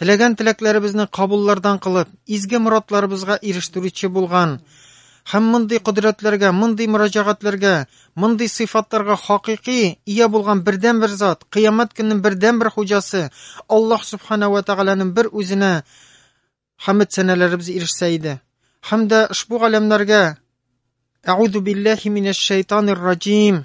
Теләгән теләкләребезне кабуллардан кылып, изге моратларыбызга ирештерүче булган һәм мондый кодрәтләргә, мондый мөрәҗәгатьләргә, мондый сыйфатларга хакыйкый ия булган бердәнбер зат, кыямәт көннең бердәнбер хуҗасы Аллаһ Субхана ва Тәгаләнең бер үзенә хәмд сәнәләребез ирешсә иде. Һәм дә ошбу галәмнәргә Әгъүзу билләһи минәш шәйтанир раҗим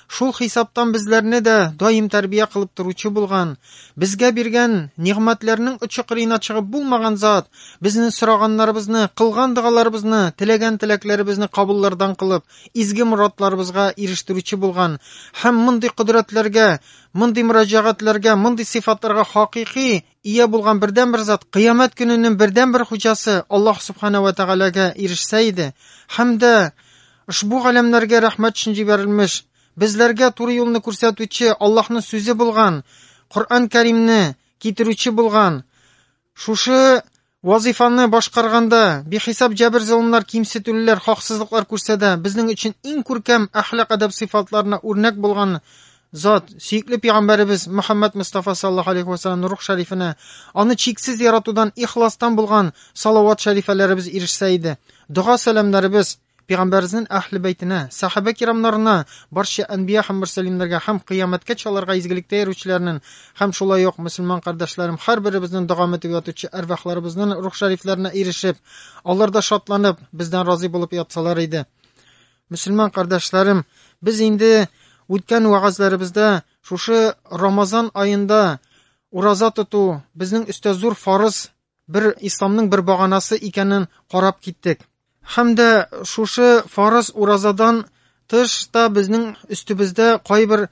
Шул хисаптан безләрне дә даим тәрбия кылып торучы булган, безгә биргән нигъмәтләрнең очы-кырыена чыгып булмаган зат, безнең сораганнарыбызны, кылган догаларыбызны, теләгән теләкләребезне кабуллардан кылып, изге моратларыбызга ирештерүче булган һәм мондый кодрәтләргә, мондый мөрәҗәгатьләргә, мондый сыйфатларга хакыйкый ия булган бердәнбер зат кыямәт көненең бердәнбер хуҗасы Аллаһ Субхана ва Тәгаләгә ирешсә иде һәм дә ошбу галәмнәргә рәхмәт өчен җибәрелмеш безләргә туры юлны күрсәтүче Аллаһның сүзе булган Коръән Кәримне китерүче булган шушы Вазифаны башкарганда, бихисап җәбер-золымнар, кимсетүләр, хаксызлыклар күрсә дә, безнең өчен иң күркәм әхлак-әдәп сыйфатларына үрнәк булган зат, сөекле пәйгамбәребез Мөхәммәд Мостафа саллаллаһу алейхи ва саллямның рух шәрифенә, аны чиксез яратудан, ихластан булган салават-шәрифәләребез ирешсә иде. Дога-сәламнәребез, Пәйгамбәребезнең Әһле бәйтенә, сәхабә кирамнарына, барча әнбия һәм мөрсәлимнәргә һәм кыямәткә чалырга изгелектә йөрүчеләрнен һәм шулай ук мөселман кардәшләрем һәрберебезнен догам итеп ятучы әрвахларыбызнын рух шәрифләренә ирешеп, алар да шатланып, бездән разый булып ятсалар иде. Мөселман кардәшләрем, без инде үткән вәгазьләребездә шушы Рамазан аенда ураза тоту безнең өстә зур фарыз бер исламның бер баганасы икәнен карап киттек. Һәм дә шушы фарыз уразадан тыш та безнең өстебездә кайбер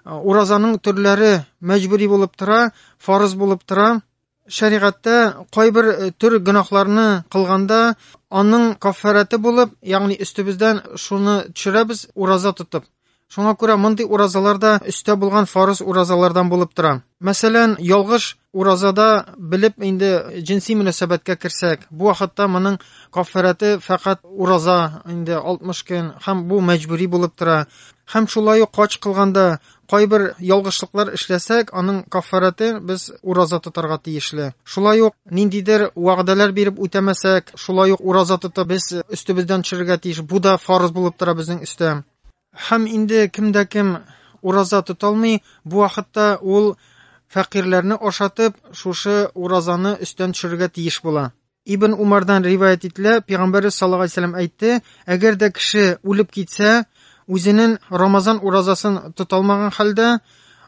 уразаның төрләре мәҗбүри булып тора, фарыз булып тора. Шәригатьтә кайбер э, төр гөнаһларны кылганда, аның каффараты булып, ягъни өстебездән шуны төшерәбез ураза тотып. Шуңа күрә мондый уразалар да өстә булган фарыз уразалардан булып тора. Мәсәлән, ялгыш уразада белеп инде җенси мөнәсәбәткә керсәк, бу вакытта моның каффараты фәкать ураза инде 60 көн һәм бу мәҗбүри булып тора. Һәм шулай ук хаҗ кылганда кайбер ялгышлыклар эшләсәк, аның каффараты без ураза тотарга тиешле. Шулай ук Ниндидер вәгъдәләр биреп үтәмәсәк, шулай ук ураза тота без өстебездән төшерергә тиеш. Бу да фарыз булып тора безнең өстә. Һәм инде кем дә кем ураза тоталмый, бу вакытта ул фәкыйрьләрне ашатып, шушы уразаны өстән төшерергә тиеш була. Ибн Умардан риваять ителә, Пәйгамбәрбез саллаллаһу алейһи вәсәлләм әйтте, әгәр дә кеше үлеп китсә, үзенең Рамазан уразасын тоталмаган хәлдә,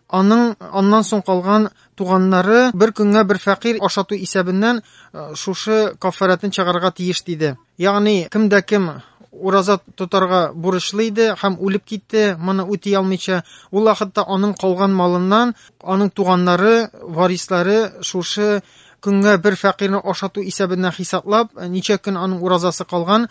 Аның аннан соң калган туганнары бер көнгә бер фәкыйрь ашату исәбеннән э, шушы каффарәтен чыгарырга тиеш диде. Ягъни кем дә кем ураза тотарга бурычлы иде һәм үлеп китте, моны үти алмыйча. Ул вакытта аның калган малыннан аның туганнары, варислары шушы көнгә бер фәкыйрне ашату исәбеннән хисаплап, ничә көн аның уразасы калган,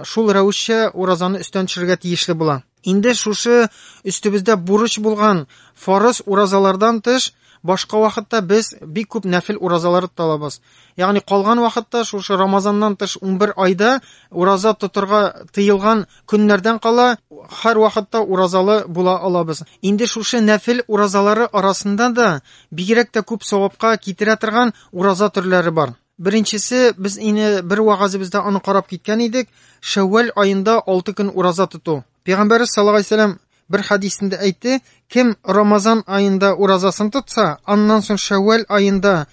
шул рәвешчә уразаны өстән төшерергә тиешле була. Инде шушы өстебездә бурыч булган фарыз уразалардан тыш, башка вакытта без бик күп нәфил уразалар талабыз. Ягъни калган вакытта шушы Рамазаннан тыш 11 айда ураза тотырга тыелган көннәрдән кала һәр вакытта уразалы була алабыз. Инде шушы нәфил уразалары арасында да бигрәк тә күп савапка китерә торган ураза төрләре бар. Беренчесе, без ине бер вагазыбызда аны карап киткән идек, Шәввәл аенда 6 көн ураза тоту. Пәйгамбәр саллаллаху алейһи вәсәлләм бер хадисендә әйтте, кем Рамазан аенда уразасын тотса, аннан соң Шәввәл аенда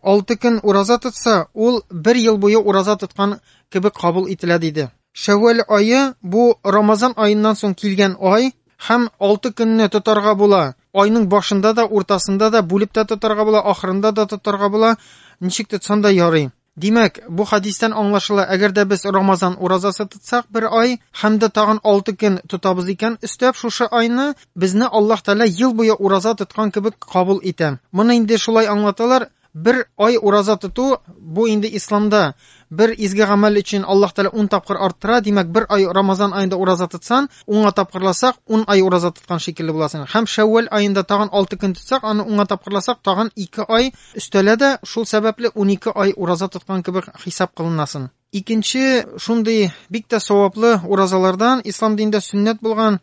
6 көн ураза тотса, ул бер ел буе ураза тоткан кебек кабул ителә диде. Шәввәл ае бу Рамазан аеннан соң килгән ай, Һәм алты көнне тотарга була. Айның башында да, уртасында да, бүлеп тә тотарга була, ахырында да тотарга була. Ничек тотсан да ярый. Димәк, бу хадистән аңлашыла, әгәр дә без Рамазан уразасы тотсак бер ай һәм дә тагын 6 көн тотабыз икән, өстәп шушы айны безне Аллаһ Тәгалә ел буе ураза тоткан кебек кабул итә. Моны инде шулай аңлаталар, Бер ай ураза тоту, бу инде исламда бер изге гамәл өчен Аллаһ Тәгалә 10 тапкыр арттыра, димәк, бер ай Рамазан аенда ураза тотсан, 10 тапкырласак, 10 ай ураза тоткан шикелле буласың. Һәм Шәввәл аенда тагын 6 көн тотсак, аны 10 тапкырласак, тагын 2 ай өстәлә дә, шул сәбәпле 12 ай ураза тоткан кебек хисап кылынасың. Икенче шундый бик тә саваплы уразалардан ислам динендә сөннәт булган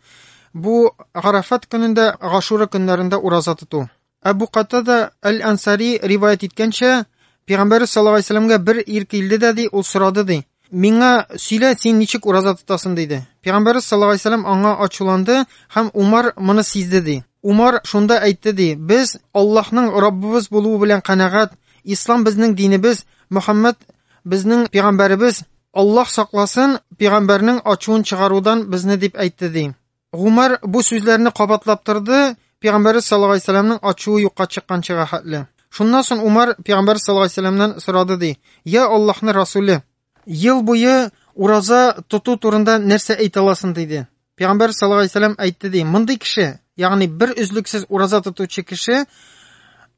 бу Арафат көнендә, Гашура көннәрендә ураза тоту. Әбу Катада Әл-Ансари риваять иткәнчә, Пәйгамбәр саллаллаху алейһи вәсәләмгә бер ир килде дә ди, ул сорады ди. Миңа сөйлә, син ничек ураза тотасың диде. Пәйгамбәр саллаллаху алейһи вәсәләм аңа ачуланды һәм Умар моны сизде ди. Умар шунда әйтте ди, без Аллаһның Раббыбыз булуы белән канәгать, ислам безнең динебез, Мөхәммәд безнең пәйгамбәребез, Аллаһ сакласын пәйгамбәрнең ачуын чыгарудан безне дип әйтте ди. Гумар бу сүзләрне кабатлап торды, пәйгамбәрбез саллаллаһу алейһи вәсәлләмнең ачуы юкка чыкканчыга хәтле. Шуннан соң Умар пәйгамбәрбез саллаллаһу алейһи вәсәлләмнән сорады ди, Я Аллаһны Расуле, ел буе ураза тоту турында нәрсә әйтә аласың диде. Пәйгамбәрбез саллаллаһу алейһи вәсәлләм әйтте ди, мондый кеше, ягъни бер өзлексез ураза тотучы кеше,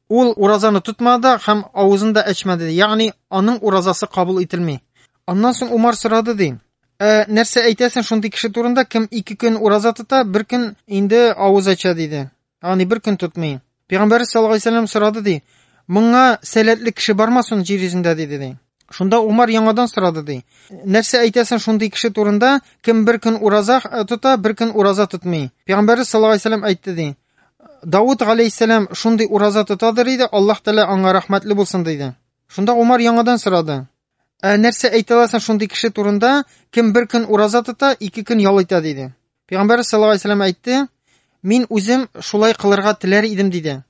ул уразаны тотмады һәм авызын да ачмады, ягъни аның уразасы кабул ителми. Аннан соң Умар сорады ди, Ә нәрсә әйтәсең шундый кеше турында, кем ике көн ураза тота, бер көн инде авыз ача диде. Ягъни бер көн тотмый. Пәйгамбәр саллаллаху алейһи вәсәлләм сорады ди. Моңа сәләтле кеше барма соң җир йөзендә диде ди. Шунда Умар яңадан сорады ди. Нәрсә әйтәсең шундый кеше турында, кем бер көн ураза э, тота, бер көн ураза тотмый. Пәйгамбәр саллаллаху алейһи вәсәлләм әйтте ди. Давуд алейһиссәлам шундый ураза тотадыр иде, Аллаһ Тәгалә аңа рәхмәтле булсын диде. Шунда Умар яңадан сорады. Ә нәрсә әйтә аласың шундый кеше турында, кем бер көн ураза тота, ике көн ял итә диде. Пәйгамбәр саллаллаху алейһи вәсәләм әйтте, мин үзем шулай кылырга теләр идем диде.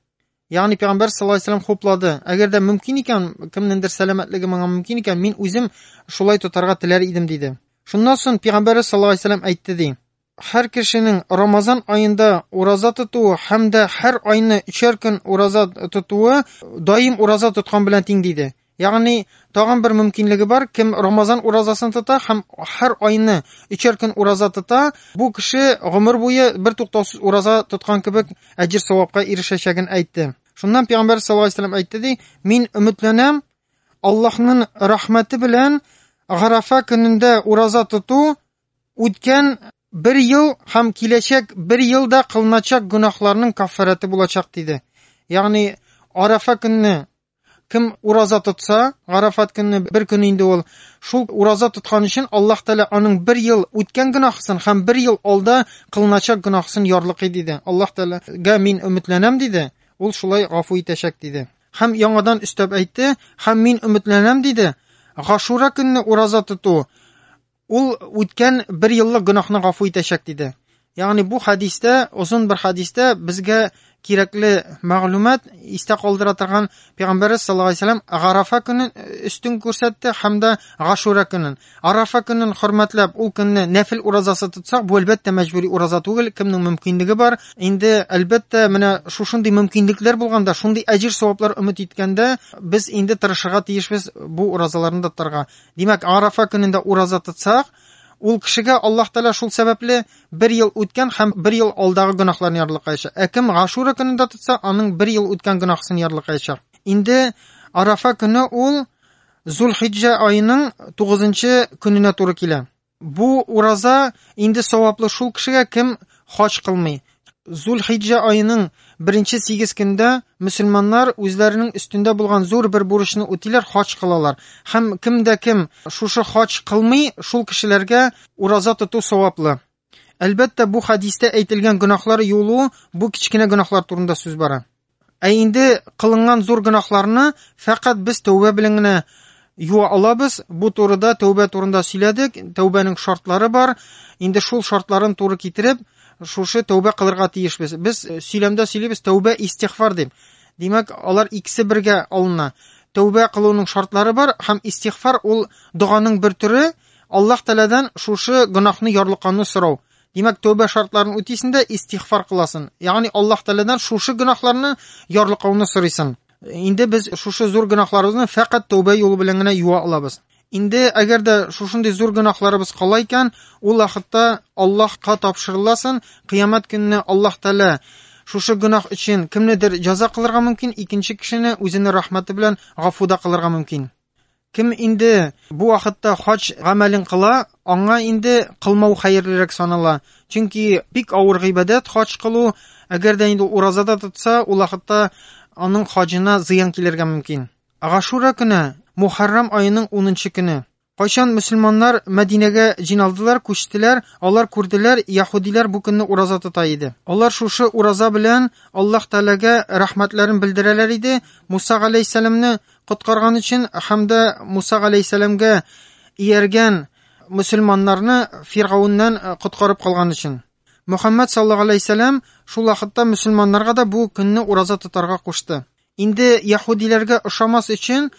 Ягъни пәйгамбәр саллаллаху алейһи вәсәләм хуплады. Әгәр дә мөмкин икән, кемнеңдер сәламәтлеге моңа мөмкин икән, мин үзем шулай тотарга теләр идем диде. Шуннан соң пәйгамбәр саллаллаху алейһи вәсәләм әйтте ди. Һәр кешенең Рамазан аенда ураза тотуы һәм дә һәр айны өчәр көн ураза тотуы даим ураза тоткан белән тиң диде. Ягъни, тагын бер мөмкинлеге бар, кем Рамазан уразасын тота һәм һәр айны өчәр көн ураза тота, бу кеше гомер буе бер туктаусыз ураза тоткан кебек әҗер савапка ирешәчәген әйтте. Шуннан пәйгамбәр саллаллаһу алейһи вәсәлләм әйтте ди, мин өметләнәм, Аллаһның рәхмәте белән Гарафа көнендә ураза тоту Үткән бер ел һәм киләчәк бер елда кылыначак гөнаһларның каффараты булачак, диде. Ягъни, Арафа көнне кем ураза тотса, Арафат көнне бер көн инде ул, шул ураза тоткан өчен Аллаһ Тәгалә аның бер ел үткән гөнаһысын һәм бер ел алда кылыначак гөнаһысын ярлыкый, диде. Аллаһ Тәгаләгә мин өметләнәм, диде. Ул шулай гафу итәчәк, диде. Һәм яңадан өстәп әйтте, һәм мин өметләнәм, диде, Гашура көнне ураза тоту Ул үткән бер еллык гөнаһны гафу итәчәк диде. Ягъни бу хәдистә, озын бер хәдистә безгә кирәкле мәгълүмат истә калдыра торган Пәйгамбәрбез саллаллаһу алейһи вәсәлләм Арафа көнен э, өстен күрсәтте һәм дә Гашура көнен. Арафа көнен хөрмәтләп, ул көнне нәфил уразасы тотсак, бу әлбәттә мәҗбүри ураза түгел, кемнең мөмкинлеге бар. Инде әлбәттә менә шушындый мөмкинлекләр булганда, шундый әҗир-саваплар өмет иткәндә, без инде тырышырга тиешбез бу уразаларны да тотарга. Димәк, Арафа көнендә ураза тотсак, ул кешегә Аллаһ Тәгалә шул сәбәпле бер ел үткән һәм бер ел алдагы гөнаһларын ярлыкка яча. Ә кем Гашура көнендә тотса, аның бер ел үткән гөнаһсын ярлыкка яча. Инде Арафа көне ул Зулхиҗҗа аеның 9 көненә туры килә. Бу ураза инде саваплы шул кешегә, кем хаҗ кылмый. Зулхиҗҗә аеның беренче сигез көндә мөселманнар үзләренең өстендә булган зур бер бурычны үтиләр, хаҗ кылалар. Һәм кем дә кем шушы хаҗ кылмый, шул кешеләргә ураза тоту саваплы. Әлбәттә, бу хәдистә әйтелгән гөнаһлар юылу, бу кечкенә гөнаһлар турында сүз бара. Ә инде кылынган зур гөнаһларны фәкать без тәүбә белән генә юа алабыз. Бу турыда тәүбә турында сөйләдек. Тәүбәнең шартлары бар. Инде шул шартларын туры китереп, шушы тәүбә кылырга тиешбез. Без э, сөйләмдә сөйлибез тәүбә истигъфар дип. Димәк, алар икесе бергә алына. Тәүбә кылуның шартлары бар һәм истигъфар ул доганың бер төре. Аллаһ Тәләдән шушы гөнаһны ярлыканны сорау. Димәк, тәүбә шартларын үтисен дә истигъфар кыласын. Ягъни Аллаһ Тәгаләдән шушы гөнаһларны ярлыкауны сорыйсын. Инде без шушы зур гөнаһларыбызны фәкать тәүбә юлы белән генә юа алабыз. Инде әгәр дә шушындый зур гөнаһларыбыз кала икән, ул вакытта Аллаһка тапшырыласын, кыямәт көнне Аллаһ Тәгалә шушы гөнаһ өчен кемнедер җәза кылырга мөмкин, икенче кешене үзенең рәхмәте белән гафу да кылырга мөмкин. Кем инде бу вакытта хаҗ гамәлен кыла, аңа инде кылмау хәерлерәк санала. Чөнки бик авыр гыйбадәт хаҗ кылу, әгәр дә инде уразада тотса, ул вакытта аның хаҗына зыян килергә мөмкин. Гашура көне, Мухаррам аеның унынчы көне. Кайчан мөселманнар Мәдинәгә җыйналдылар, күчтеләр, алар күрделәр, яһүдиләр бу көнне ураза тота иде. Алар шушы ураза белән Аллаһ Тәгаләгә рәхмәтләрен белдерәләр иде, Муса галәйһиссәламне коткарган өчен һәм дә Муса галәйһиссәламгә ияргән мөселманнарны Фиргауннан э, коткарып калган өчен. Мөхәммәд саллаллаху алейһи вәсәлләм шул вакытта мөселманнарга да бу көнне ураза тотарга кушты. Инде яһудиләргә ошамас өчен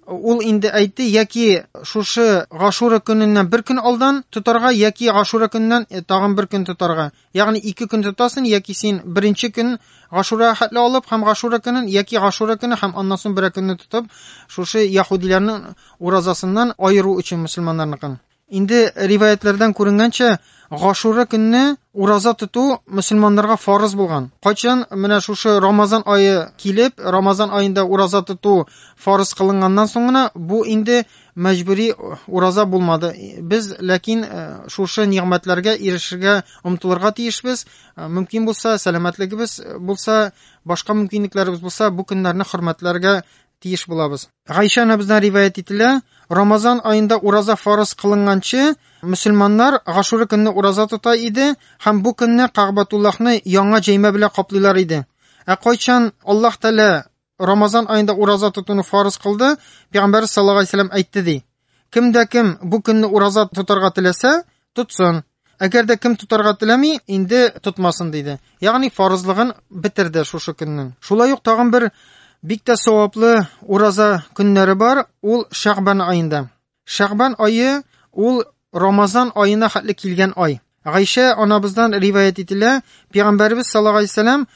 ул инде әйтте, яки шушы Гашура көненнән бер көн алдан тотарга, яки Гашура көненнән э, тагын бер көн тотарга. Ягъни ике көн тотасын яки син беренче көн Гашура хәтле алып һәм Гашура көнен яки Гашура көне һәм аннан соң берәр көнне тотып, шушы яһудиләрнең уразасыннан аеру өчен мөселманнарныкын. Инде риваятләрдән күренгәнчә, Гашура көнне ураза тоту мөселманнарга фарыз булган. Кайчан менә шушы Рамазан ае килеп, Рамазан аенда ураза тоту фарыз кылынганнан соң гына бу инде Мәҗбүри ураза булмады. Без, ләкин, э, шушы нигъмәтләргә ирешергә омтылырга тиешбез. Э, мөмкин булса, сәламәтлегебез булса, башка мөмкинлекләребез булса, бу көннәрне хөрмәтләргә тиеш булабыз. Гайшә анабыздан риваять ителә, Рамазан айында ураза фарыз кылынганчы, мөселманнар Гашура көнне ураза тота иде һәм бу көнне Кагъбатуллахны яңа җәймә белән каплыйлар иде. Ә кайчан Аллаһ Тәгалә Рамазан аенда ураза тотуны фарыз кылды, Пәйгамбәр саллаллаһу алейһи вәсәлләм әйтте ди. Кем дә кем бу көнне ураза тотарга теләсә, тотсын. Әгәр дә кем тотарга теләми, инде тотмасын диде. Ягъни фарызлыгын бетерде шушы көннең. Шулай ук тагын бер бик тә саваплы ураза көннәре бар, ул Шәгъбан аенда. Шәгъбан ае ул Рамазан аена хәтле килгән ай. Гайшә анабыздан риваять ителә, Пәйгамбәрбез саллаллаһу алейһи вәсәлләм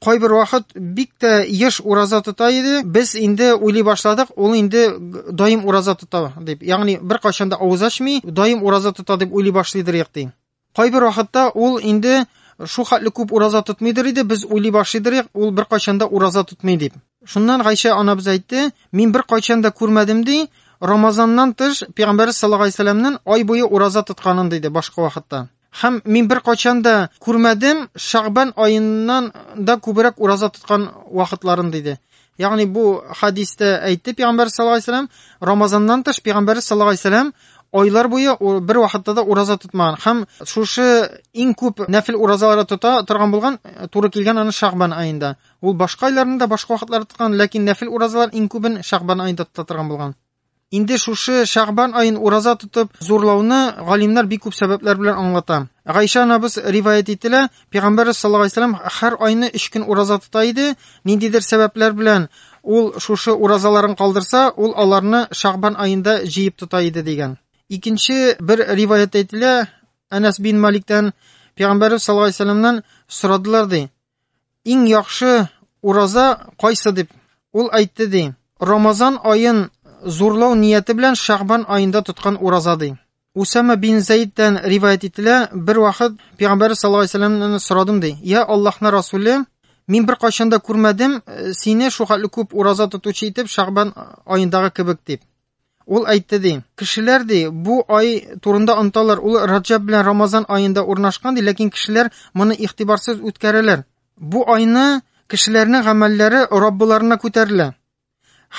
кайбер вакыт бик тә еш ураза тота иде. Без инде уйлый башладык, ул инде даим ураза тота дип. Ягъни беркайчан да авыз ачмый, даим ураза тота дип уйлый башлыйдыр ягъти. Кайбер вакытта ул инде шул хәтле күп ураза тотмыйдыр иде, без уйлый башлыйдырык, ул беркайчан да ураза тотмый дип. Шуннан Гайшә анабыз әйтте, мин беркайчан да күрмәдем ди, Рамазаннан тыш Пәйгамбәр саллаллаху алейһи вәсәлләмнән ай буе ураза тотканын диде башка вакытта. Һәм мин беркайчан да күрмәдем Шагбан аеннан да күбрәк ураза тоткан вакытларын диде. Ягъни бу хадистә әйтте Пәйгамбәр саллаллаһу алейһи вәсәлләм, Рамазаннан тыш Пәйгамбәр саллаллаһу алейһи вәсәлләм айлар буе бер вакытта да ураза тотмаган һәм шушы иң күп нәфил уразалары тота торган булган э, туры килгән аны Шагбан аенда. Ул башка айларны да башка вакытларда тоткан, ләкин нәфил уразалар иң күбен Шагбан аенда тота торган булган. Инде шушы Шәгъбан аен ураза тотып зурлауны галимнәр бик күп сәбәпләр белән аңлата. Гайшә анабыз риваять ителә, Пәйгамбәр саллаллаху алейһи вәсәлләм һәр айны өч көн ураза тота иде, ниндидер сәбәпләр белән ул шушы уразаларын калдырса, ул аларны Шәгъбан аенда җыеп тота иде дигән. Икенче бер риваять әйтелә, Әнәс бин Маликтән Пәйгамбәрбез саллаллаху алейһи вәсәлләмнән сорадылар ди. Иң яхшы ураза кайсы дип ул әйтте ди. Рамазан аен зурлау нияте белән Шәгъбан аенда тоткан ураза ди. Усама бин Зәйдтән риваять ителә, бер вакыт Пәйгамбәр саллаллаху алейһи вәсәлләмнән сорадым ди. Я Аллаһны Расуле, мин бер кайчан да күрмәдем э, сине шул хәтле күп ураза тотучы итеп Шәгъбан аендагы кебек дип. Ул әйтте ди, кешеләр ди, бу ай турында онталар, ул Раджаб белән Рамазан аенда урнашкан ди, ләкин кешеләр моны игътибарсыз үткәрәләр. Бу айны кешеләрнең гамәлләре Раббыларына күтәрелә.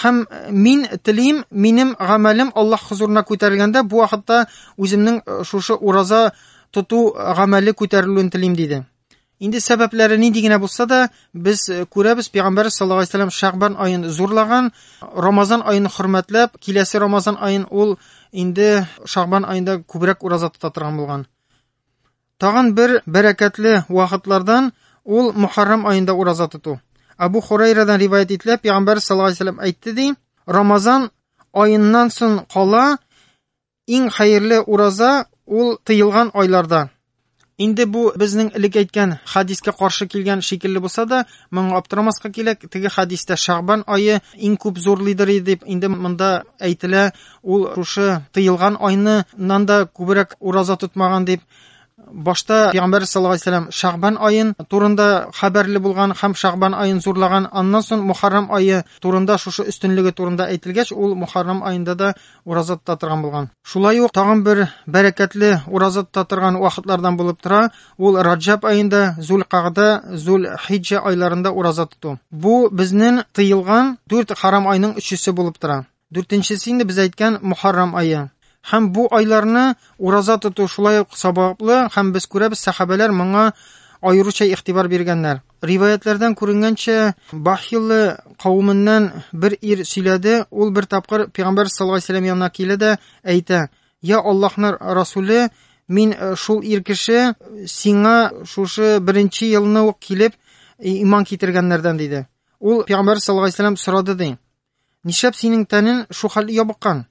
Һәм мин телим, минем гамәлем Аллаһ хузурына күтәрелгәндә бу вакытта үземнең э, шушы ураза тоту гамәле күтәрелүен телим диде. Инде сәбәпләре нинди генә булса да, без э, күрәбез, пәйгамбәр саллаллаһу алейһи вәсәлләм Шәгъбан аен зурлаган, Рамазан аен хөрмәтләп, киләсе Рамазан аен ул инде Шәгъбан аенда күбрәк ураза тота торган булган. Тагын бер бәрәкәтле вакытлардан ул Мухаррам аенда ураза тоту. Абу Хурайрадан риваят ителә, пәйгамбәр саллаллаһу алейһи вәсәлләм әйтте ди, Рамазан аеннан соң кала Иң хәерле ураза ул тыелган айларда. Инде бу безнең элек әйткән хадискә каршы килгән шикелле булса да, моңа аптырамаска кирәк. Теге хадистә Шагбан ае иң күп зурлыйдыр дип, инде монда әйтелә, ул шушы тыелган айныннан да күбрәк ураза тотмаган дип. Башта Пәйгамбәр саллаллаһу алейһи вәсәлләм Шагбан аен турында хәбәрле булган һәм Шагбан аен зурлаган. Аннан соң Мухаррам ае турында шушы өстенлеге турында әйтелгәч, ул Мухаррам аенда да ураза тота торган булган. Шулай ук тагын бер бәрәкәтле ураза тота торган вакытлардан булып тора, ул Раджаб аенда, Зулкагда, Зулхиҗҗа айларында ураза тоту. Бу безнең тыелган дүрт харам айның өчесе булып тора. Дүртенчесе инде без әйткән Мухаррам ае. Һәм бу айларны ураза тоту шулай ук сабаплы, һәм без күрәбез, сәхабәләр моңа аеруча игътибар биргәннәр. Риваятләрдән күренгәнчә, Бахилы кавымыннан бер ир сөйләде, ул бер тапкыр Пәйгамбәр саллаллаһу алейһи вәсәлләм янына килә дә әйтә: "Я Аллаһның Расуле, мин э, шул ир кеше э, сиңа шушы беренче елны ук килеп иман китергәннәрдән", диде. Ул Пәйгамбәр саллаллаһу алейһи вәсәлләм сорады ди. Нишләп синең тәнен шу хәл ябыккан?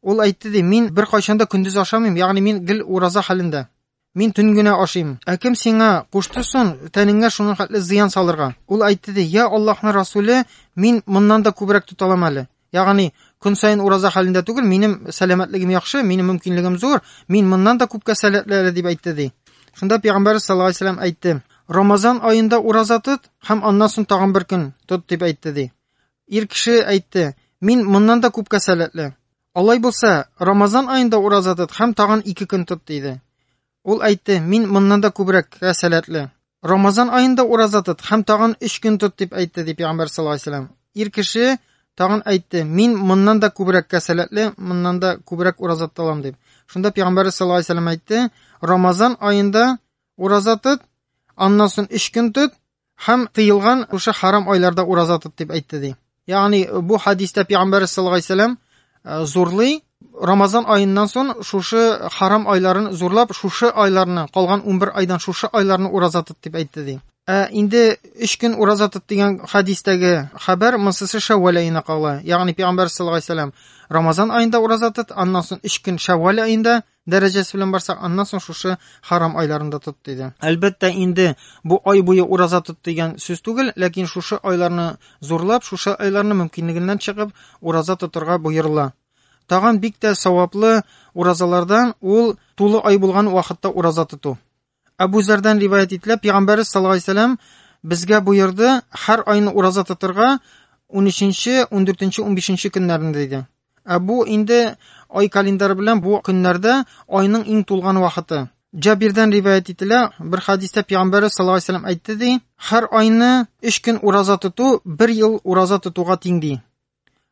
Ул әйтте ди, мин бер кайчан да көндез ашамыйм, ягъни мин гел ураза хәлендә. Мин төн генә ашыйм. Ә кем сиңа кушты сон тәнеңә шуның хәтле зыян салырга? Ул әйтте ди, я Аллаһның Расуле, мин моннан да күбрәк тота алам әле. Ягъни, көн саен ураза хәлендә түгел, минем сәламәтлегем яхшы, минем мөмкинлегем зур, мин моннан да күпкә сәләтле әле дип әйтте ди. Шунда пәйгамбәр саллаллаху алейһи ва әйтте: Рамазан аенда ураза тот һәм аннан соң тагын бер көн тот дип әйтте ди. Ир кеше әйтте, Мин моннан да күпкә сәләтле. Алай булса, Рамазан аенда ураза тот һәм тагын ике көн тот, диде. Ул әйтте, мин моннан да күбрәк сәләтле. Рамазан аенда ураза тот һәм тагын өч көн тот, дип әйтте, ди Пәйгамбәр саллаллаху алейһи Ир кеше тагын әйтте, мин моннан да күбрәк сәләтле, моннан да күбрәк ураза тота алам, дип. Шунда Пәйгамбәр саллаллаху алейһи әйтте, Рамазан аенда ураза тот, аннан соң өч көн тот, Һәм тыелган шушы харам айларда ураза тот дип әйтте ди. Ягъни бу хадистә пәйгамбәр саллаллаху алейһи вәсәлләм э, зурлый Рамазан аеннан сон шушы харам айларын зурлап, шушы айларны, калган 11 айдан шушы айларны ураза тот дип әйтте ди. Ә инде 3 көн ураза тот дигән хадистәге хәбәр монсысы Шәввал аена кагыла. Ягъни пәйгамбәр саллаллаху алейһи вәсәлләм Рамазан аенда ураза тот, аннан сон 3 көн Шәввал аенда, дәрәҗәсе белән барсак, аннан соң шушы харам айларында тот диде. Әлбәттә, инде бу ай буе ураза тот дигән сүз түгел, ләкин шушы айларны зурлап, шушы айларны мөмкинлегеннән чыгып ураза тотырга боерыла. Тагын бик тә саваплы уразалардан ул тулы ай булган вакытта ураза тоту. Абу Зардан риваят ителә, Пәйгамбәрбез саллаллаһу алейһи вәсәлләм безгә боерды, һәр айны ураза тотырга 13-нче, 14-нче, 15-нче көннәрендә диде. Ә бу инде ай календаре белән бу көннәрдә айның иң тулган вакыты. Җабирдән риваят ителә, бер хадистә Пәйгамбәр саллаллаһу алейһи вәсәлләм әйтте ди, һәр айны 3 көн ураза тоту бер ел ураза тотуга тиң ди.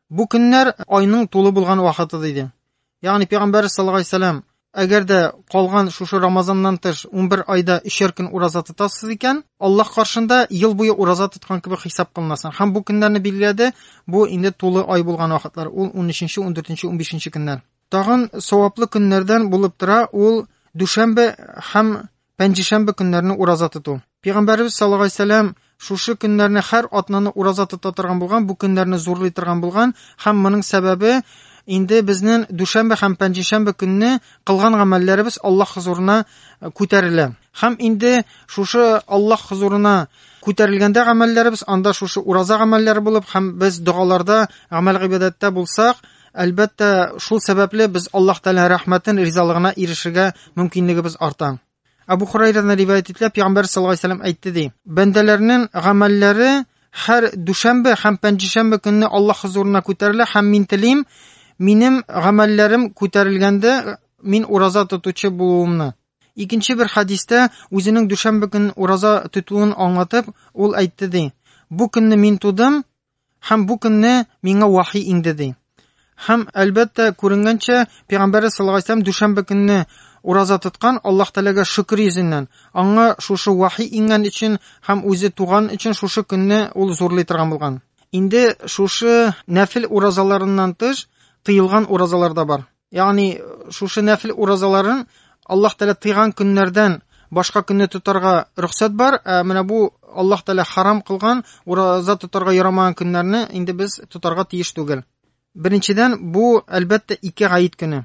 Бу көннәр айның тулы булган вакыты диде. Ягъни пәйгамбәр саллаллаһу алейһи вәсәлләм Әгәр дә калган шушы Рамазаннан тыш 11 айда өчәр көн ураза тотасыз икән, Аллаһ каршында ел буе ураза тоткан кебек хисап кылынасың. Һәм бу көннәрне билгеләде, бу инде тулы ай булган вакытлар, ул 13-нче, 14-нче, 15-нче көннәр. Тагын саваплы көннәрдән булып тора ул дүшәмбе һәм Пәнҗешәмбе көннәрне ураза тоту. Пәйгамбәребез саллаллаһу алейһи вәсәлләм шушы көннәрне һәр атнаны ураза тота торган булган, бу көннәрне зурлый торган булган һәм моның сәбәбе инде безнең дүшәмбе һәм пәнҗешәмбе көнне кылган гамәлләребез Аллаһ хозурына э, күтәрелә. Һәм инде шушы Аллаһ хозурына күтәрелгәндә гамәлләребез анда шушы ураза гамәлләре булып һәм без догаларда, гамәл гыйбадәттә булсак, Әлбәттә, шул сәбәпле без Аллаһ Тәгалә рәхмәтен, ризалыгына ирешергә мөмкинлегебез арта. Абу Хурайрадан риваять ителә, Пәйгамбәр саллаллаху алейһи вәсәлләм әйтте ди. Бәндәләрнең гамәлләре һәр дүшәмбе һәм пәнҗешәмбе көнне Аллаһ хузурына күтәрелә һәм мин телим, минем гамәлләрем күтәрелгәндә мин ураза тотучы булуымны. Икенче бер хадистә үзенең дүшәмбе көн ураза тотуын аңлатып, ул әйтте ди: "Бу көнне мин тудым, Һәм бу көнне миңа вахи иңде ди. Һәм әлбәттә күренгәнчә пәйгамбәр саллаллаху алейһи вәсәлләм дүшәмбе көнне ураза тоткан Аллаһ Тәгаләгә шөкер йөзеннән. Аңа шушы вахи иңгән өчен һәм үзе туган өчен шушы көнне ул зурлый торган булган. Инде шушы нәфил уразаларыннан тыш тыелган уразалар да бар. Ягъни шушы нәфил уразаларын Аллаһ Тәгалә тыйган көннәрдән башка көнне тотарга рөхсәт бар, ә менә бу Аллаһ Тәгалә харам кылган ураза тотарга ярамаган көннәрне инде без тотарга тиеш түгел. Беренчедән, бу әлбәттә ике гаит көне.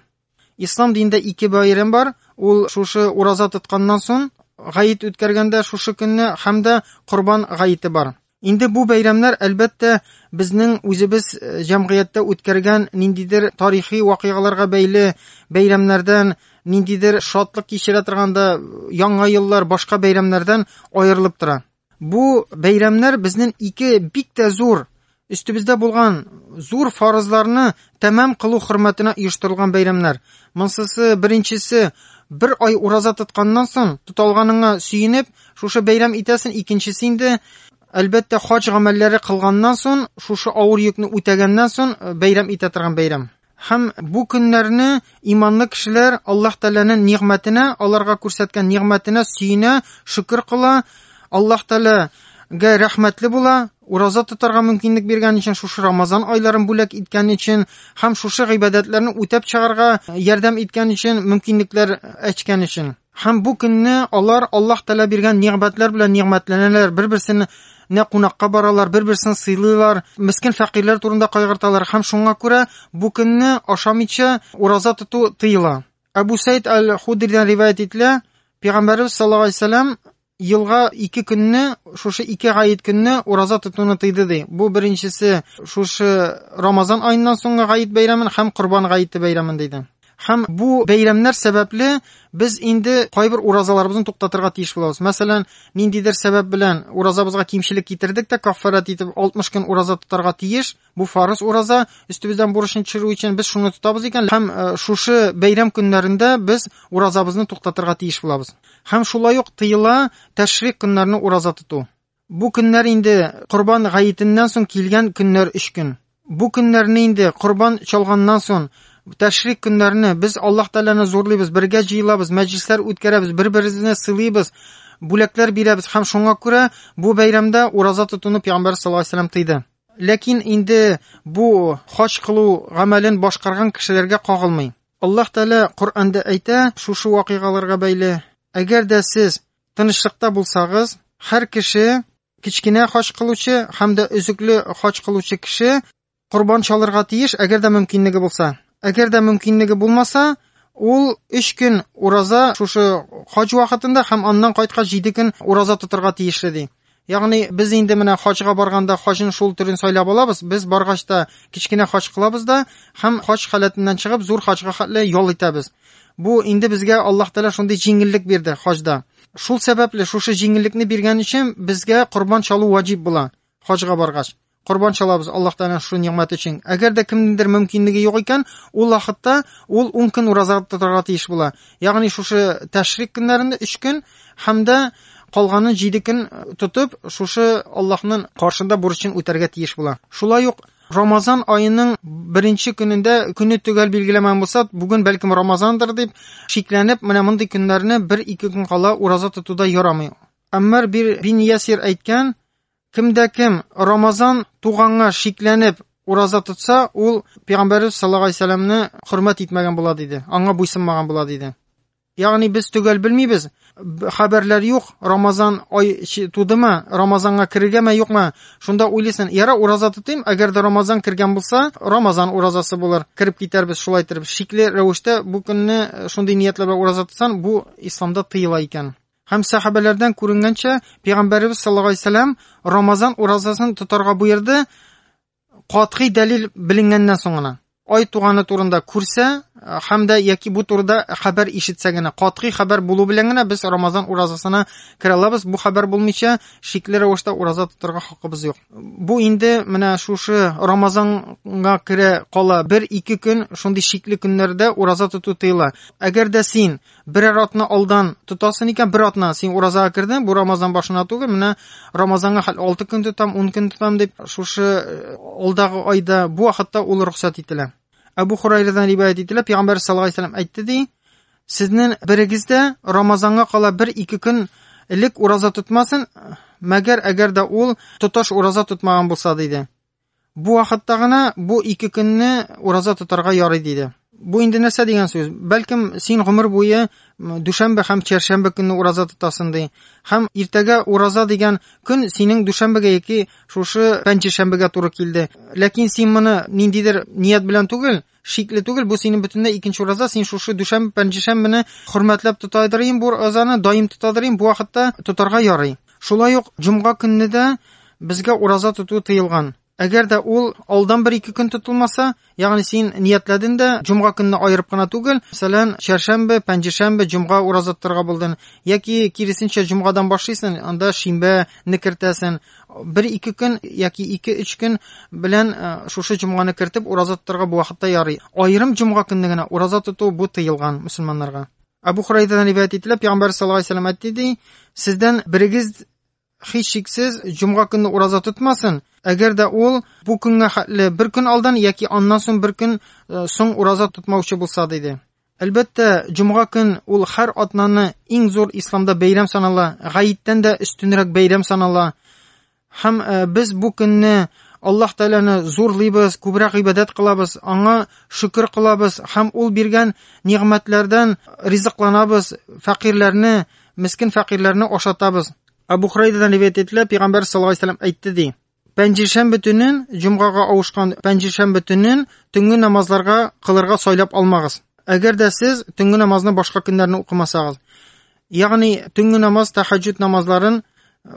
Ислам динендә ике бәйрәм бар, ул шушы ураза тотканнан соң гаит үткәргәндә шушы көнне һәм дә Корбан гаите бар. Инде бу бәйрәмнәр, әлбәттә, безнең үзебез э, җәмгыятьтә үткәргән ниндидер тарихи вакыйгаларга бәйле бәйрәмнәрдән, ниндидер шатлык кичерә торганда яңа еллар, башка бәйрәмнәрдән аерылып тора. Бу бәйрәмнәр безнең ике бик тә зур өстебездә булган зур фарызларны тәмам кылу хөрмәтенә оештырылган бәйрәмнәр. Монсысы беренчесе бер ай ураза тотканнан соң тоталганыңа сөенеп, Шушы бәйрәм итәсен икенчесе инде әлбәттә хаҗ гамәлләре кылганнан соң, шушы авыр йөкне үтәгәннән соң э, бәйрәм итә торган бәйрәм. Һәм бу көннәрне иманлы кешеләр Аллаһ Тәгаләнең нигъмәтенә, аларга күрсәткән нигъмәтенә сөенә, шөкер кыла. Аллаһ Тәгаләгә рәхмәтле була, ураза тотарга мөмкинлек биргән өчен, шушы Рамазан айларын бүләк иткән өчен һәм шушы гыйбадәтләрне үтәп чыгарга ярдәм иткән өчен, мөмкинлекләр ачкан өчен. Һәм бу көнне алар Аллаһ Тәгалә биргән нигъмәтләр белән нигъмәтләнәләр, бер-берсенә кунакка баралар, бер-берсен сыйлыйлар, мискин фәкыйрьләр турында кайгырталар һәм шуңа күрә бу көнне ашамыйча ураза тоту тыела. Абу Сәйд аль-Худридән риваять ителә, Пәйгамбәрбез саллаллаһу алейһи вәсәлләм елга ике көнне, шушы ике гает көнне ураза тотуны тыйды ди. Бу беренчесе шушы Рамазан айыннан соңгы гает бәйрәмен һәм Корбан гайте бәйрәмен диде. Һәм бу бәйрәмнәр сәбәпле без инде кайбер уразаларыбызны туктатырга тиеш булабыз. Мәсәлән, ниндидер сәбәп белән уразабызга кимчелек китердек тә каффарат итеп 60 көн ураза тотарга тиеш. Бу фарыз ураза, өстебездән бурычны төшерү өчен без шуны тотабыз икән, һәм э, шушы бәйрәм көннәрендә без уразабызны туктатырга тиеш булабыз. Һәм шулай ук тыела тәшрик көннәрне ураза тоту. Бу көннәр инде Корбан гаетеннән соң килгән көннәр өч көн. Бу көннәрне инде Корбан чалганнан соң тәшрик көннәрне без Аллаһ Тәгаләне зурлыйбыз, бергә җыелабыз, мәҗлесләр үткәрәбез, бер-беребезне сылыйбыз, бүләкләр бирәбез һәм шуңа күрә бу бәйрәмдә ураза тотуны Пәйгамбәр саллаллаһу алейһи тыйды. Ләкин инде бу хаҗ кылу гамәлен башкарган кешеләргә кагылмый. Аллаһ Тәгалә Коръәндә әйтә шушы вакыйгаларга бәйле, Әгәр дә сез тынычлыкта булсагыз, һәр кеше, кечкенә хаҗ кылучы һәм дә өзекле хаҗ кылучы кеше корбан чалырга тиеш, әгәр дә мөмкинлеге булса. Әгәр дә мөмкинлеге булмаса, ул 3 көн ураза шушы хаҗ вакытында һәм аннан кайткач 7 көн ураза тотарга тиешле ди. Ягъни без инде менә хаҗга барганда хаҗын шул төрен сайлап алабыз, без баргач та кечкенә хаҗ кылабыз да һәм хаҗ халәтеннән чыгып зур хаҗга хәтле ял итәбез. Бу инде безгә Аллаһ Тәгалә шундый җиңеллек бирде хаҗда. Шул сәбәпле шушы җиңеллекне биргән өчен безгә корбан чалу ваҗиб була хаҗга баргач. корбан чалабыз Аллаһ Тәгаләнең шушы нигъмәт өчен. Әгәр дә кемнеңдер мөмкинлеге юк икән, ул вакытта ул 10 көн ураза тотарга тиеш була. Ягъни шушы тәшрик көннәрендә 3 көн һәм дә калганын 7 көн тотып, шушы Аллаһның каршында бурычын үтәргә тиеш була. Шулай ук Рамазан аеның беренче көнендә көне төгәл билгеләмәгән булса, бүген бәлкем Рамазандыр дип шикләнеп, менә мондый көннәрне 1-2 көн кала ураза тотуда ярамый. Аммар бир бин Ясир әйткән, Кемдә кем Рамазан туганга шикләнеп ураза тотса, ул Пәйгамбәрбез саллаллаһу алейһи вәсәлләмне хөрмәт итмәгән була диде, аңа буйсынмаган була диде. Ягъни без төгәл белмибез, хәбәрләр юк, Рамазан ай тудымы, Рамазанга кергәме, юкмы? Шунда уйлыйсың, яра ураза тотыйм, әгәр дә Рамазан кергән булса, Рамазан уразасы булыр. Киреп китәрбез шулай итеп. Шикле рәвештә бу көнне шундый ниятләр белән ураза тотсаң, бу исламда тыела икән. Һәм сәхәбәләрдән күренгәнчә, пәйгамбәребез саллаллаһу алейһи вәсәлләм Рамазан уразасын тотарга буйырды, катгый дәлил беленгәннән соң гына. Ай туганы турында күрсә э, һәм дә яки бу турыда хәбәр ишетсә генә, катгый хәбәр булу белән генә без Рамазан уразасына керә алабыз. Бу хәбәр булмыйча, шикле рәвештә ураза тотарга хакыбыз юк. Бу инде менә шушы Рамазанга керә кала бер-ике көн шундый шикле көннәрдә ураза тоту тыела. Әгәр дә син берәр атна алдан тотасың икән, бер атна син уразага кердең, бу Рамазан башына түгел, менә Рамазанга хәл 6 көн тотам, 10 көн тотам дип, шушы э, алдагы айда бу вакытта ул рөхсәт ителә. Әбу Хурайрадан риваять ителә, пәйгамбәр саллаллаһу алейһи ва әйтте ди, сезнең берегез дә Рамазанга кала бер ике көн элек ураза тотмасын, мәгәр әгәр дә ул тоташ ураза тотмаган булса диде. Бу вакытта гына бу ике көнне ураза тотарга ярый диде. Бу инде нәрсә дигән сүз? Бәлкем син гомер буе дүшәмбе һәм чәршәмбе көнне ураза тотасың ди. Һәм иртәгә ураза дигән көн синең дүшәмбегә яки шушы пәнҗешәмбегә туры килде. Ләкин син моны ниндидер ният белән түгел, Шикле түгел, бу синең бөтенләй икенче ураза, син шушы дүшәмбе, пәнҗешәмбене хөрмәтләп тотадыр идең бу уразаны, даим тотадыр идең, бу вакытта тотарга ярый. Шулай ук җомга көнне дә безгә ураза тоту тыелган. Әгәр дә ул алдан бер-ике көн тотылмаса, ягъни син ниятләдең дә, җомга көнне аерып кына түгел, мәсәлән, чәршәмбе, пәнҗешәмбе, җомга ураза тотарга булдың, яки киресенчә җомгадан башлыйсың, анда шимбәне кертәсең. бер ике көн яки ике өч көн белән э, шушы җомганы кертеп ураза тотарга бу вакытта ярый аерым җомга көнне генә ураза тоту бу тыелган мөселманнарга Абу Хурайдадан риваят ителә, Пәйгамбәр саллаллаху алейһи вәсәлләм әйтте ди, сездән берегез һич шиксез җомга көнне ураза тотмасын, әгәр дә ул бу көнгә хәтле бер көн алдан яки аннан соң бер көн э, соң ураза тотмаучы булса диде. Әлбәттә, җомга көн ул һәр атнаны иң зур исламда бәйрәм санала, гаеттән дә өстенрәк бәйрәм санала. Һәм э, без бу көнне Аллаһ Тәгаләне зурлыйбыз, күбрәк гыйбадәт кылабыз, аңа шөкер кылабыз һәм ул биргән нигъмәтләрдән ризыкланабыз, фәкыйрьләрне, мискин фәкыйрьләрне ашатабыз. Абу Хурайдадан риваять ителә, Пәйгамбәр саллаллаһу алейһи ва әйтте ди. Пәнҗешәмбе төнен җомгага авышкан пәнҗешәмбе төнен төнге намазларга кылырга сайлап алмагыз. Әгәр дә сез төнге намазны башка көннәрне укымасагыз. Ягъни төнге намаз, тәһаҗҗүд намазларын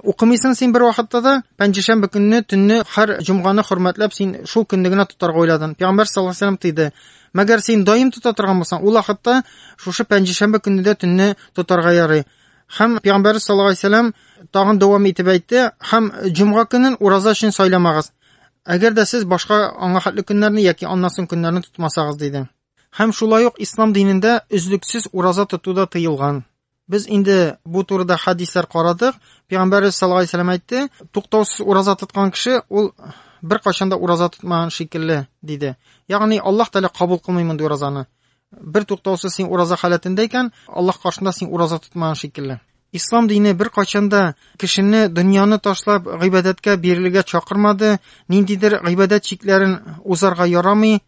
укымыйсың син бер вакытта да, пәнҗешәмбе көнне төнне һәр җомганы хөрмәтләп син шул көнне генә тотарга уйладың. Пәйгамбәр саллаллаху алейһи тыйды. Мәгәр син даим тота торган булсаң, ул вакытта шушы пәнҗешәмбе көнне дә төнне тотарга ярый. Һәм Пәйгамбәрбез саллаллаһу алейһи вәсәлләм тагын дәвам итеп әйтте, һәм җомга көнен ураза өчен сайламагыз. Әгәр дә сез башка аңа хәтле көннәрне яки аннан соң көннәрне тотмасагыз диде. Һәм шулай ук ислам динендә өзлексез ураза тоту да тыелган. Без инде бу турыда хәдисләр карадык. Пәйгамбәрбез саллаллаһу алейһи вәсәлләм әйтте, туктаусыз ураза тоткан кеше ул беркайчан да ураза тотмаган шикелле диде. Ягъни Аллаһ Тәгалә кабул кылмый мондый уразаны. Бер туктаусыз син ураза халәтендә икән, Аллаһ каршында син ураза тотмаган шикелле. Ислам дине бер качанда кешене дөньяны ташлап гыйбадәткә бирелергә чакырмады, ниндидер гыйбадәт чикләрен узарга ярамый,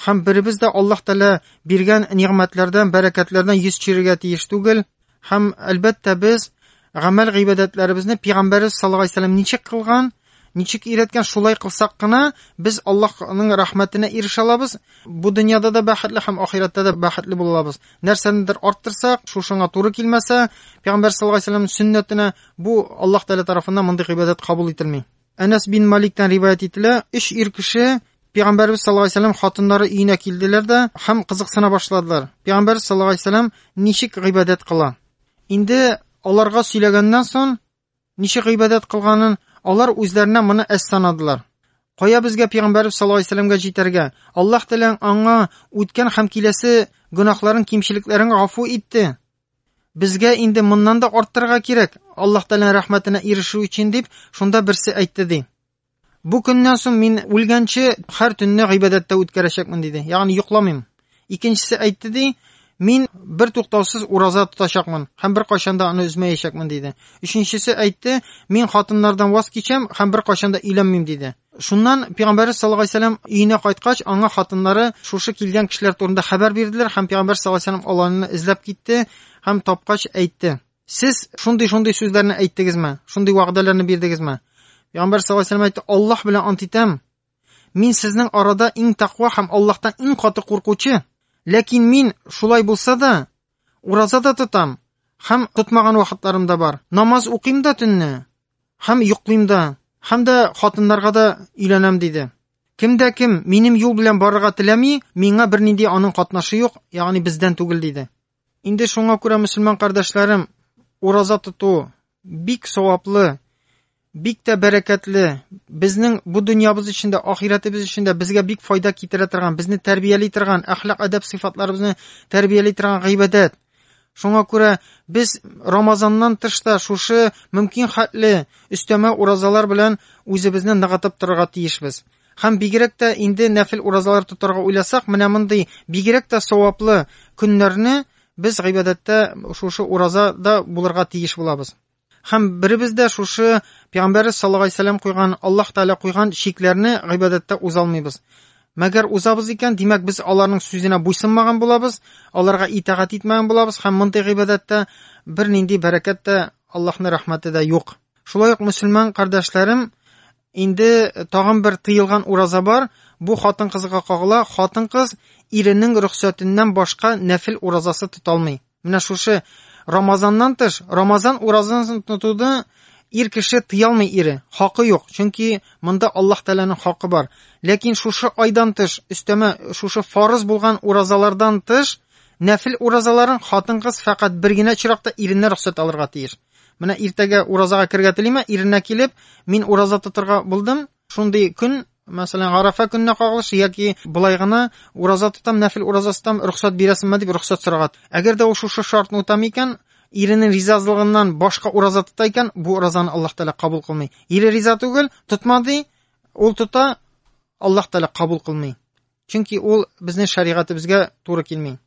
һәм беребез дә Аллаһ Тәгалә биргән нигъмәтләрдән, бәрәкәтләрдән йөз чирергә тиеш түгел. Һәм әлбәттә без гамәл гыйбадәтләребезне пигамбәребез саллаллаһу алейһи вәсәлләм ничек кылган, ничек өйрәткән, шулай кылсак кына без Аллаһның рәхмәтенә ирешә алабыз. Бу дөньяда да бәхетле һәм ахирәттә дә бәхетле була алабыз. Нәрсәнедер арттырсак, шушыңа туры килмәсә, пигамбәр саллаллаһу алейһи вәсәлләм сөннәтенә бу Аллаһ Тәгалә тарафыннан мондый гыйбадәт кабул ителми. Әнәс бин Маликтән риваять ителә, өч ир кеше Пәйгамбәрбез саллаллаһу алейһи вәсәлләм хатыннары өенә килделәр дә һәм кызыксына башладылар. Пәйгамбәрбез саллаллаһу алейһи вәсәлләм ничек гыйбадәт кыла? Инде аларга сөйләгәннән соң, ничек гыйбадәт кылганын, алар үзләренә моны әз санадылар. Кая безгә Пәйгамбәрбез саллаллаһу алейһи вәсәлләмгә җитәргә? Аллаһ Тәгалә аңа үткән һәм киләсе гөнаһларын, кимчелекләрен гафу итте. Безгә инде моннан да арттырырга кирәк, Аллаһ Тәгаләнең рәхмәтенә ирешү өчен дип, шунда берсе әйтте ди. Бу көннән соң мин үлгәнче һәр төнне гыйбадәттә үткәрәчәкмен диде. Ягъни йокламыйм. Икенчесе әйтте ди, мин бер туктаусыз ураза тотачакмын һәм бер кайчан да аны өзмәячәкмен диде. Өченчесе әйтте, мин хатыннардан ваз кичәм һәм бер кайчан да өйләнмим диде. Шуннан Пәйгамбәрбез саллаллаһу алейһи вәсәлләм өенә кайткач, аңа хатыннары шушы килгән кешеләр турында хәбәр бирделәр һәм Пәйгамбәр саллаллаһу алейһи вәсәлләм аларны эзләп китте һәм тапкач әйтте: "Сез шундый-шундый сүзләрне әйттегезме? Шундый вәгъдәләрне бирдегезме?" Пәйгамбәр саллаллаһу алейһи вәсәлләм әйтте: "Аллаһ белән ант итәм, мин сезнең арада иң тәкъва һәм Аллаһтан иң каты куркучы, ләкин мин шулай булса да, ураза да тотам һәм тотмаган вакытларым да бар. Намаз укыйм да төнне, Һәм йоклыйм да, һәм дә хатыннарга да өйләнәм диде. Кем дә кем минем юл белән барырга теләми, миңа бернинди аның катнашы юк, ягъни бездән түгел диде. Инде шуңа күрә мөселман кардәшләрем, ураза тоту бик саваплы, бик тә бәрәкәтле, безнең бу дөньябыз өчен дә, ахирәтебез өчен дә безгә бик файда китерә торган, безне тәрбияли торган, әхлак әдәп сыйфатларыбызны тәрбияли торган гыйбадәт. Шуңа күрә без Рамазаннан тыш та шушы мөмкин хәтле өстәмә уразалар белән үзебезне ныгытып торырга тиешбез. Һәм бигрәк тә инде нәфил уразалар тотарга уйласак, менә мондый бигрәк тә саваплы көннәрне без гыйбадәттә шушы уразада булырга тиеш булабыз. Һәм беребез дә шушы Пәйгамбәрбез саллаллаһу алейһи вәсәлләм куйган, Аллаһ Тәгалә куйган шикләрне гыйбадәттә уза алмыйбыз. Мәгәр узабыз икән, димәк без аларның сүзенә буйсынмаган булабыз, аларга итагать итмәгән булабыз һәм мондый гыйбадәттә бернинди бәрәкәт тә, Аллаһның рәхмәте дә юк. Шулай ук мөселман кардәшләрем, инде тагын бер тыелган ураза бар, бу хатын-кызга кагыла, хатын-кыз иренең рөхсәтеннән башка нәфил уразасы тоталмый. Менә шушы Рамазаннан тыш, Рамазан уразасын тотуды ир кеше тыя алмый ире, хакы юк, чөнки монда Аллаһ Тәгаләнең хакы бар. Ләкин шушы айдан тыш, өстәмә шушы фарыз булган уразалардан тыш, нәфил уразаларын хатын-кыз фәкать бер генә очракта иренә рөхсәт алырга тиеш. Менә иртәгә уразага кергә телиме, иренә килеп, мин ураза тотырга булдым, Шундый көн, мәсәлән, Арафа көненә кагылыш яки былай гына ураза тотам, нәфил ураза тотам, рөхсәт бирәсеңме дип рөхсәт сораган. Әгәр дә ул шушы шартны утамый икән, иренең ризазлыгыннан башка ураза тота икән, бу уразаны Аллаһ Тәгалә кабул кылмый. Ире риза түгел, тотмады, ул тота, Аллаһ Тәгалә кабул кылмый. Чөнки ул безнең шәригатебезгә туры килми.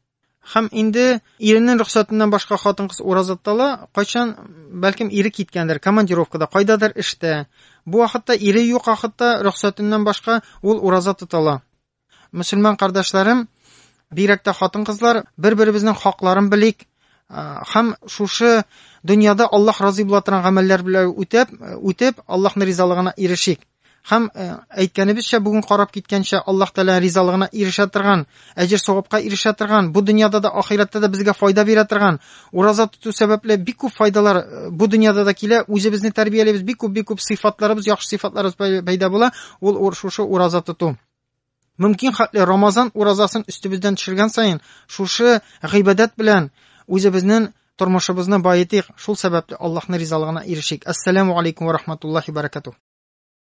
Хәм инде иренен рөхсәтеннән башка хатын-кыз ураза тотала, кайчан, бәлкем, ире киткәндер, командировкада, кайдадыр эштә. Бу вакытта ире юк вакытта рөхсәтеннән башка ул ураза тотала. Мөселман кардәшләрем, бигрәк тә хатын-кызлар, бер-беребезнең хакларын белик, хәм шушы дөньяда Аллаһ разый була торган гамәлләр белән үтәп, үтеп, Аллаһның ризалыгына ирешик. Һәм э, әйткәнебезчә, бүген карап киткәнчә, Аллаһ Тәгалә ризалыгына ирешә торган, әҗер савапка ирешә торган, бу дөньяда да, ахирәттә дә безгә файда бирә торган, ураза тоту сәбәпле бик күп файдалар э, бу дөньяда да килә, үзебезне тәрбиялибез, бик күп бик күп сыйфатларыбыз, яхшы сыйфатларыбыз пәйда була, ул шушы ураза тоту. Мөмкин хәтле Рамазан уразасын өстебездән төшергән саен, шушы гыйбадәт белән үзебезнең тормышыбызны баетыйк, шул сәбәпле Аллаһның ризалыгына ирешик. Ассаламу алейкум ва рахматуллахи баракатух.